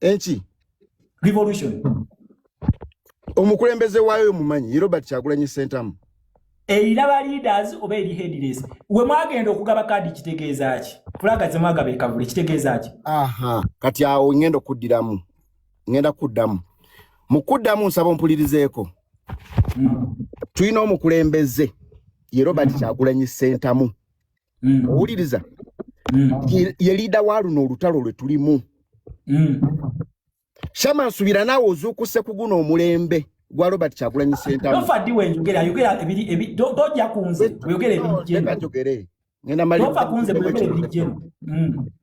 enki revolution omukulembeze waayo omumanyi ye robert kyagulanyi sentamu eiraba leaders oba eri headless we mwagenda okugaba kaadi kitegeeza ki fulaga ze mwagaba ekavule kitegeeza ki aha kati awo ngenda okuddiramu ngenda kuddamu mu kuddamu nsaba ompulirizeeko hmm. tulina omukulembeze ye robert hmm. kyagulanyi sentamu mm. owuliriza mm. ye liida wa luno olutalo lwe tulimu mm. shama nsubira naawe ozuukuse ku guno omulembe gwa robert kyagulanyi sentamuadi wenjogera ayogera toja kunze oyogera ebijjeno ngenda mali kunze oyogera ebijjeno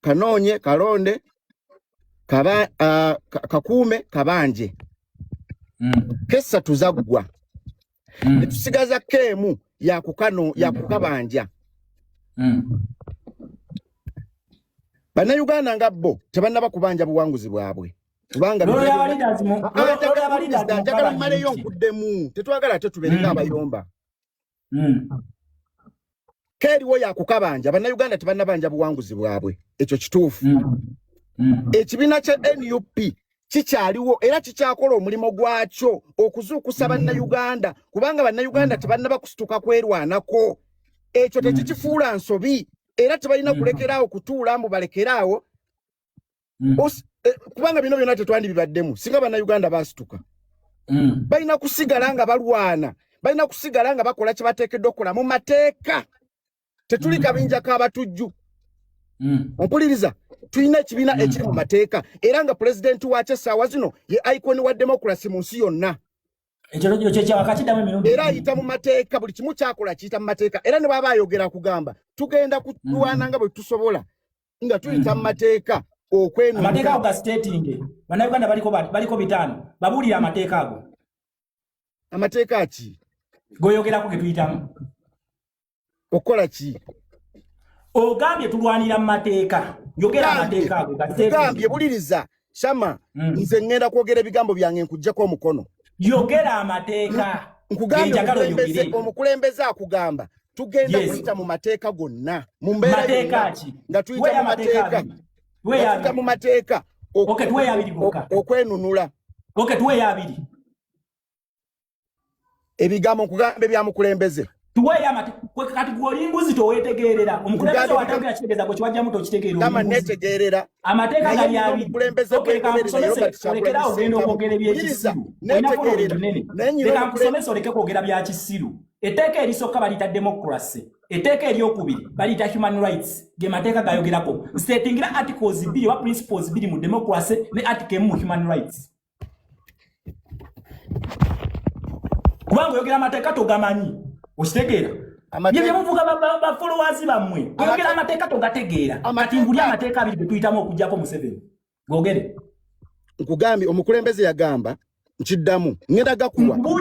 kanoonye kalonde kaba, uh, kakuume kabanje mm. kesatu zaggwa mm. netusigaza keemu yakukano mm. yakukabanja mm. bannayuganda nga bo tebannaba kubanja buwanguzi bwabwe kubanga njagala mmaleyo nkuddemu tetwagala ate tubeere nga mm. abayomba mm. keeriwo yakukabanja bannayuganda tebannabanja buwanguzi bwabwe ekyo kituufu mm. mm. ekibiina kya nup kikyaliwo era kikyakola omulimu gwakyo okuzuukusa bannayuganda kubanga bannayuganda tebannaba kusituka kwerwanako ekyo tekikifuula nsobi era tebalina kulekeraawo kutuula mbu balekeraawo mm. eh, kubanga bino byona tetwandi bibaddemu singa bannayuganda basituka mm. balina kusigala nga balwana balina kusigala nga bakola kyebateekeddwa okukola mu mateeka tetuli mm. kabinja kabatujju mm. ompuliriza tulina ekibiina mm. ekiri mu mateeka era nga pulezidenti wakyo essaawa zino ye iconi wa demokrasi mu nsi yonna era ayita mu mateeka buli kimu kyakola kiyita mu mateeka era ne bwaba ayogera kugamba tugenda kulwana nga bwe tusobola nga tuyita mu mateeka okwenamateeka ago gasitetinge bannayuganda baliko bitaano babuulire amateeka ago amateeka ki goyogerako getuyitamu okukola ki ogambye tulwanira mu mateeka yogera amateeka ago gasitetinge buliriza shama mm. nze ngenda kwogera ebigambo byange nkujjeko omukono yogera amateeka nkugambye omukulembeze akugamba tugenda kuyita mu mateeka gonna mu mbeera nga tuyita mu mateeka tuyita mu mateeka okwenunula ebigambo nkugamba ebyamukulembeze kati gwolimbuzi towetegerera omukulembeze watagera kitegeeza gwe kiwajjamu tokitegeeranetegeerera amateeka galiabiolekera ogenda okwogera ebyekisiru olinaoleka nkusomesa oleke kwogera bya kisiru etteeka erisooka baliyita democracy etteeka eryokubiri baliyita human rights ge mateeka gayogerako nsetingira articles bbiri oba principles bbiri mu democracy ne article emu mu human rights kubanga oyogera amateeka togamanyi okitegeera byemuvuga bafolowazi bammwe oyogera amateeka togategeera kati nguli amateeka abiri getuyitamu okujjako museveni gogere nkugambye omukulembeze yagamba nkiddamu ngenda gakuwa